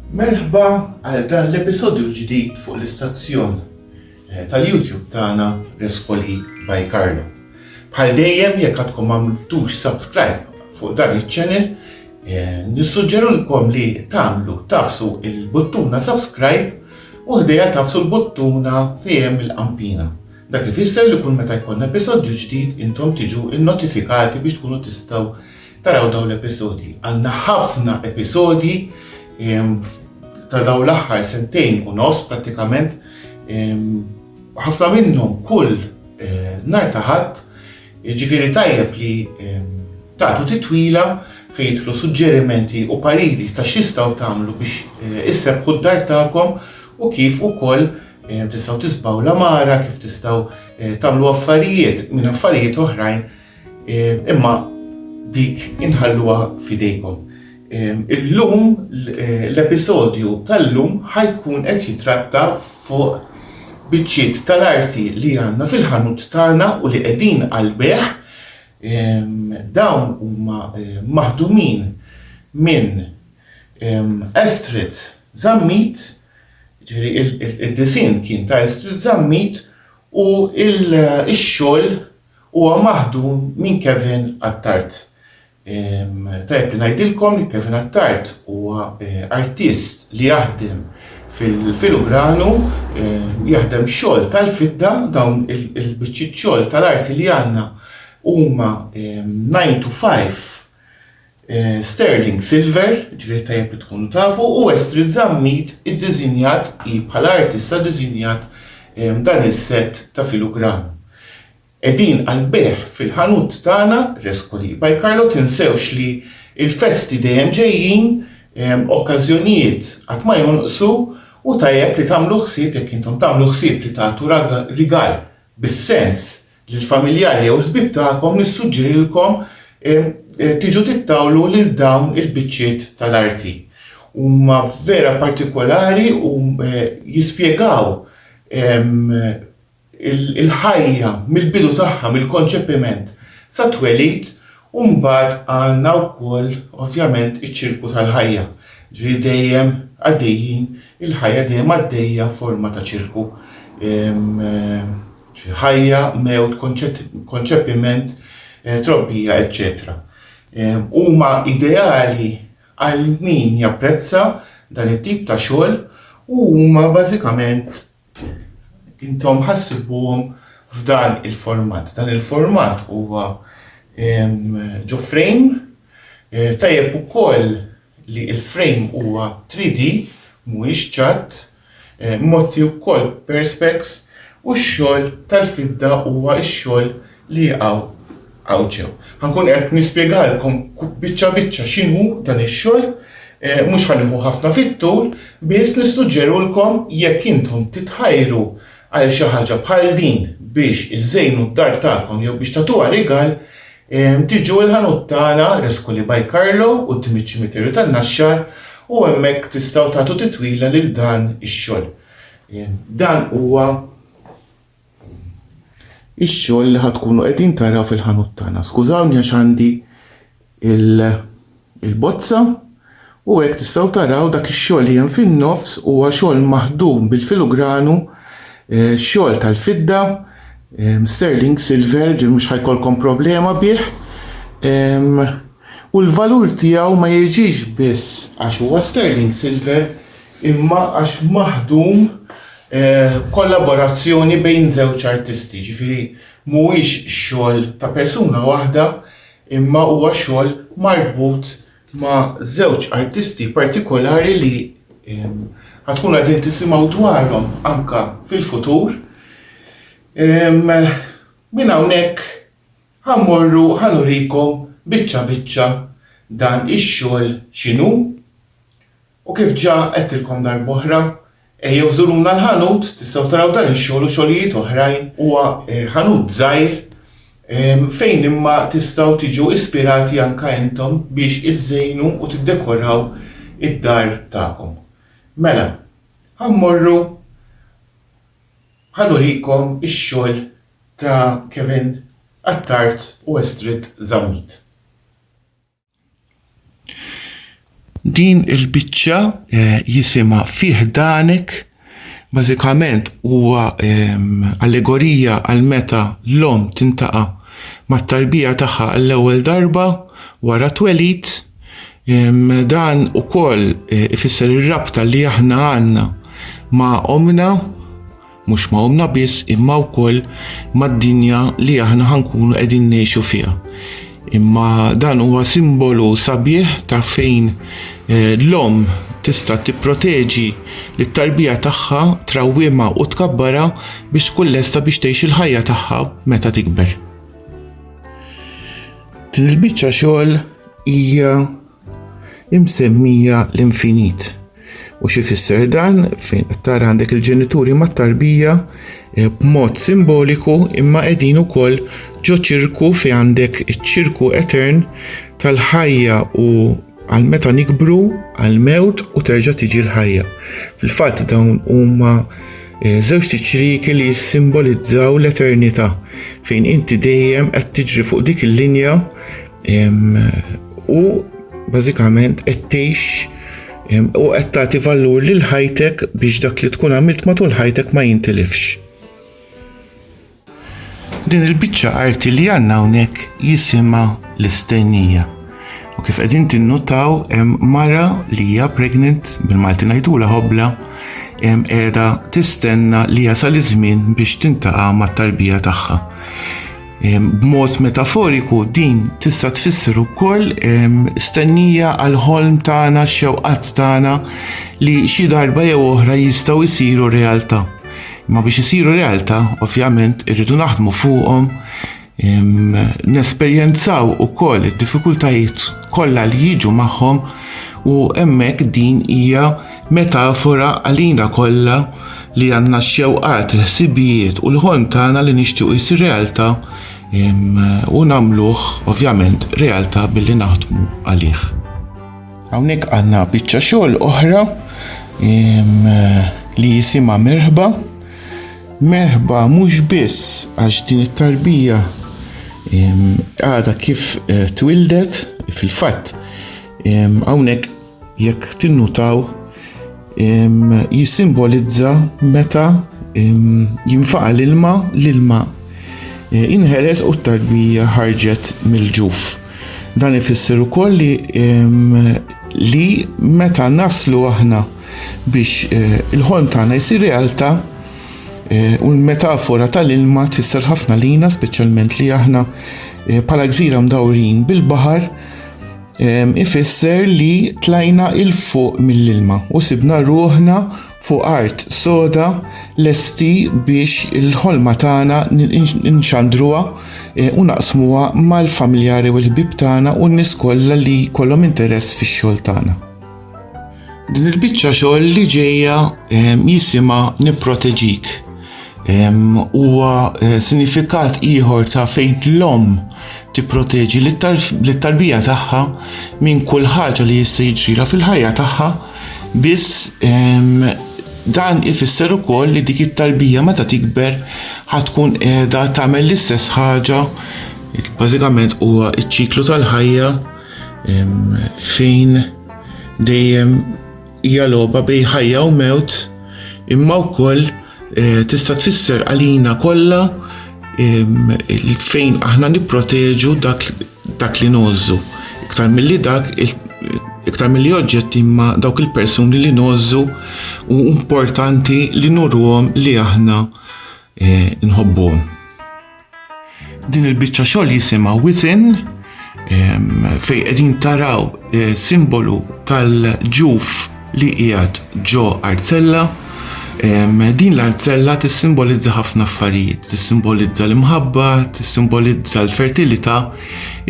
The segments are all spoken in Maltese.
Merħba għal dan l-episodju l-ġdid fuq l-istazzjon tal-YouTube tagħna Rescoli by Carlo. Bħal dejjem jekk għadkom m'għamltux subscribe fuq dan iċ-channel, eh, nissuġġerulkom li tagħmlu tafsu il-buttuna subscribe u ħdejja tafsu l-buttuna fejem il-qampina. Dak ifisser li kull meta jkun episodju ġdid intom tiġu innotifikati biex tkunu tistgħu Taraw dawn l-episodji. Għandna ħafna episodji ehm, ta' dawn l-aħħar sentejn u nos prattikament ehm, ħafna minnhom kull eh, nar taħat ġifiri tajjeb li ehm, tagħtu titwila fejn jitlu suġġerimenti u pariri ta' x'jistgħu tagħmlu biex eh, issebħu d-dar tagħkom u kif ukoll Eh, tistaw tisbaw l-amara, kif tistaw eh, tamlu affarijiet minn affarijiet oħrajn Imma dik inħalluha f'idejkom. Illum l-episodju tal-lum ħajkun qed jitratta fuq biċċiet tal-arti li għandna fil-ħanut tagħna u li qegħdin għall-bejgħ. Dawn huma maħdumin minn Astrid Zammit, ġifieri id-disinn kien ta' Astrid Zammit u x-xogħol Huwa maħdum minn Kevin Attard. Tajjeb li ngħidilkom li Kevin Attard huwa artist li jaħdem fil-filigranu, jaħdem xogħol tal-fidda, dawn il-biċċiet xogħol tal-arti li għandna huma nine to five Sterling Silver, ġifieri tajjeb li tkunu tafu, u Estrid Zammit iddiżinjat hi bħala artista diżinjat dan is-sett ta' filugram. Qegħdin għall-bejgħ fil-ħanut tagħna, Rescoli by Carlo tinsewx li l-festi dejjem ġejjin, okkażjonijiet qatt ma jonqsu u tajjeb li tagħmlu ħsieb jekk intom tagħmlu ħsieb li tagħtu rigal bis-sens Lill-familjari jew il-ħbieb tagħkom nissuġġerilkom tiġu tittawlu lil dawn il-biċċiet tal-arti. Huma vera partikolari u jispjegaw il-ħajja mill-bidu tagħha, mill-konċepiment sat-twelid u mbagħad għandna wkoll ovvjament iċ-ċirku tal-ħajja, ġifieri dejjem għaddejjin, il-ħajja dejjem għaddejja f'forma ta' ċirku. ħajja, mewt, konċepiment, trobbija, eċċetera Huma ideali għal min japprezza dan it-tip ta' xogħol u huma bażikament intom ħassibuhom f'dan il-format. Dan il-format huwa ġo frame, tajjeb ukoll li l-frame huwa 3D mhuwiex ċatt, Motti wkoll Perspex u x-xogħol tal-fidda huwa x-xogħol li jaqaw hawn ġew. Ħankun qed nispjegalkom biċċa biċċa x'inhu dan ix-xogħol, mhux ħa nieħu ħafna fit-tul, biss nissuġġerulkom jekk intom titħajru għal xi ħaġa bħal din biex iżżejnu d-dar tagħkom jew biex tagħtuha rigal, Tiġu l-ħanut tagħna, Rescoli by Carlo, quddiem iċ-Ċimiterju tan-Naxxar u hemmhekk tistgħu tagħtu titwila lil dan ix-xogħol. Dan huwa ix-xogħol li ħad tkunu qegħdin taraw fil-ħanut tagħna. Skużawni għax għandi il- il-bozza u hekk tistgħu taraw dak ix-xogħol li hemm fin-nofs huwa xogħol maħdum bil-filugranu, eh, xogħol tal-fidda, eh, sterling silver, ġifieri mhux ħajkolkom problema bih. Ehm, u l-valur tiegħu ma jiġix biss għax huwa sterling silver imma għax maħdum eh, kollaborazzjoni bejn żewġ artisti, ġifieri mhuwiex xogħol ta' persuna waħda imma huwa xogħol marbut ma' żewġ artisti partikolari li ħatkunu qegħdin tisimgħu dwarhom anke fil-futur. Minn hawnhekk ħammorru ħanurikom biċċa biċċa dan ix-xogħol x'inhu. U kif ġa għedtilkom darb'oħra, ejjew żuruna l-ħanut, tistgħu taraw dan ix-xogħol u xogħlijiet oħrajn. Huwa ħanut żgħir fejn imma tistgħu tiġu ispirati anke intom biex iżżejnu u tiddekoraw id-dar tagħkom. Mela, ħa mmorru ħa nurikom ix-xogħol ta' Kevin Attard u Estrid Zammit. Din il-biċċa eh, jisimha fih danek bażikament huwa ehm, allegorija għal meta l-om tintaqa' mat-tarbija tagħha għall-ewwel darba wara twelid. Ehm, dan ukoll eh, ifisser ir-rabta li aħna għandna ma' omna mhux ma' ommna biss imma wkoll mad-dinja li aħna ħankunu qegħdin ngħixu fiha. Imma dan huwa simbolu sabiħ ta' fejn eh, l-omm tista' tipproteġi lit-tarbija tagħha, trawwimha u tkabbara biex tkun lesta biex tgħix il-ħajja tagħha meta tikber. Din il-biċċa xogħol hija imsemmija l-infinit. U xi fisser dan fejn qed tara għandek il-ġenituri mat-tarbija eh, b'mod simboliku imma qegħdin ukoll ġo ċirku fi għandek iċ-ċirku etern tal-ħajja u għal meta nikbru għal mewt u terġa' tiġi l-ħajja. Fil-fatt dawn huma eh, żewġ tiċriki li jissimbolizzaw l-eternità fejn inti dejjem qed tiġri fuq dik il-linja U bażikament qed tgħix u qed tagħti valur lil ħajtek biex dak li tkun għamilt matul ħajtek ma jintilifx. Din il-biċċa arti li għandna hawnhekk jisimha l-istennija. U kif qegħdin tinnutaw hemm mara li hija pregnant bil-Malti ngħidula ħobla hemm qiegħda tistenna li jasal iż-żmien biex tintaqa' mat-tarbija tagħha. B'mod metaforiku din tista' tfisser ukoll stennija għal ħolm tagħna x-xewqat tagħna li xi darba jew oħra jistgħu jsiru realtà. Ma biex isiru realtà, ovvjament irridu naħdmu fuqhom nesperjenzaw ukoll id-diffikultajiet kollha li jiġu magħhom u hemmhekk din hija Metafora għalina kollha li għandna x-xewqat, il-ħsibijiet u l-ħolm tagħna li nixtiequ jsir realtà u nagħmluh ovvjament realtà billi naħdmu għalih. Hawnhekk għandna biċċa xogħol oħra li jisimha merħba. Merħba mhux biss għax din it-tarbija għadha kif eh, twildet fil-fatt hawnhekk Jekk tinnutaw, jissimbolizza meta jinfaqa l-ilma, l-ilma e, inħeles u t-tarbija ħarġet mill-ġuf. Dan ifisser ukoll li li meta naslu aħna biex e, il-ħolm tagħna jsir realtà e, u l-metafora tal-ilma tfisser ħafna lina, speċjalment li aħna bħala gżira mdawrin bil-baħar ifisser li tlajna il-fuq mill-ilma u sibna ruħna fuq art soda lesti biex il-ħolma tagħna nxandruha e, u naqsmuha mal-familjari u l-ħbib tagħna u n-nies kollha li kollhom interess fix-xogħol tagħna. Din il-biċċa xogħol li ġejja ehm, jisimha nipproteġik. Ehm, huwa eh, sinifikat ieħor ta' fejn l-om tipproteġi lit-tarbija tagħha minn kull ħaġa li jista' jiġrila fil-ħajja tagħha biss ehm, dan ifisser ukoll li dik it-tarbija meta tikber ħatkun qiegħda tagħmel l-istess ħaġa bażikament huwa ċ-ċiklu tal-ħajja Fejn dejjem hija logħba bej ħajja u mewt, imma wkoll eh, tista' tfisser għalina kollha fejn aħna nipproteġu dak, dak li nożżu. Iktar milli dak, iktar milli oġġetti imma dawk il-persuni li nożżu u importanti li nurruhom li aħna eh, nħobbuhom. Din il-biċċa xogħol jisimha Within fej qegħdin taraw eh, simbolu tal-ġuf li qiegħed ġo arzella. Din l-arzella tissimbolizza ħafna affarijiet, tissimbolizza l-imħabba, tissimbolizza l-fertilità,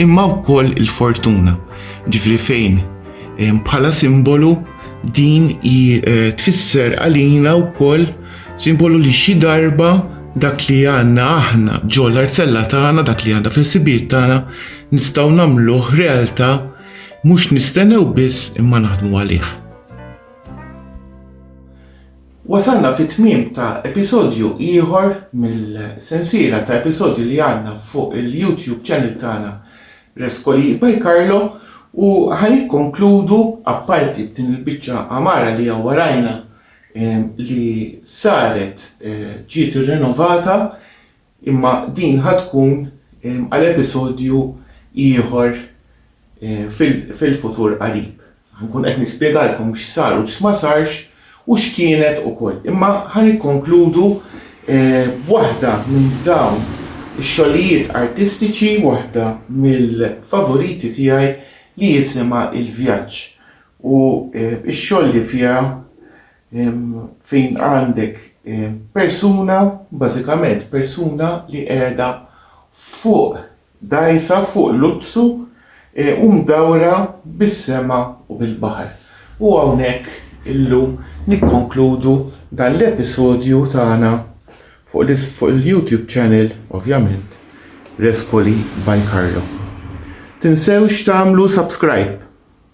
imma wkoll il-fortuna. Ġifri fejn bħala simbolu din eh, tfisser għalina wkoll Simbolu li xi darba dak li għandna aħna ġol arzella tagħna, dak li għandna fil-sibijiet tagħna, nistgħu nagħmluh realtà mhux nistennew biss imma naħdmu għalih. Wasalna fit-tmiem ta' episodju ieħor mill-sensiela ta' episodji li għandna fuq il-YouTube channel tagħna Reskoli by Carlo u ħan ikkonkludu apparti din il-biċċa amara li warajna li saret ġiet irrenovata imma din ħa tkun għal episodju ieħor fil-futur qarib. Ħankun qed nispjegalkom x'sar u x'ma sarx u x'kienet ukoll. Imma ħa nikkonkludu b'waħda minn dawn ix-xogħlijiet artistiċi, waħda mill-favoriti tiegħi li jisimha Il-Vjaġġ. u x-xogħol li fiha fejn għandek persuna, bażikament persuna li qiegħda fuq dgħajsa, fuq luzzu u mdawra bis-sema u bil-baħar. U hawnhekk illum nikkonkludu dan l-episodju tagħna fuq il-YouTube channel, ovvjament, Respoli by Carlo. Tinsewx tagħmlu subscribe.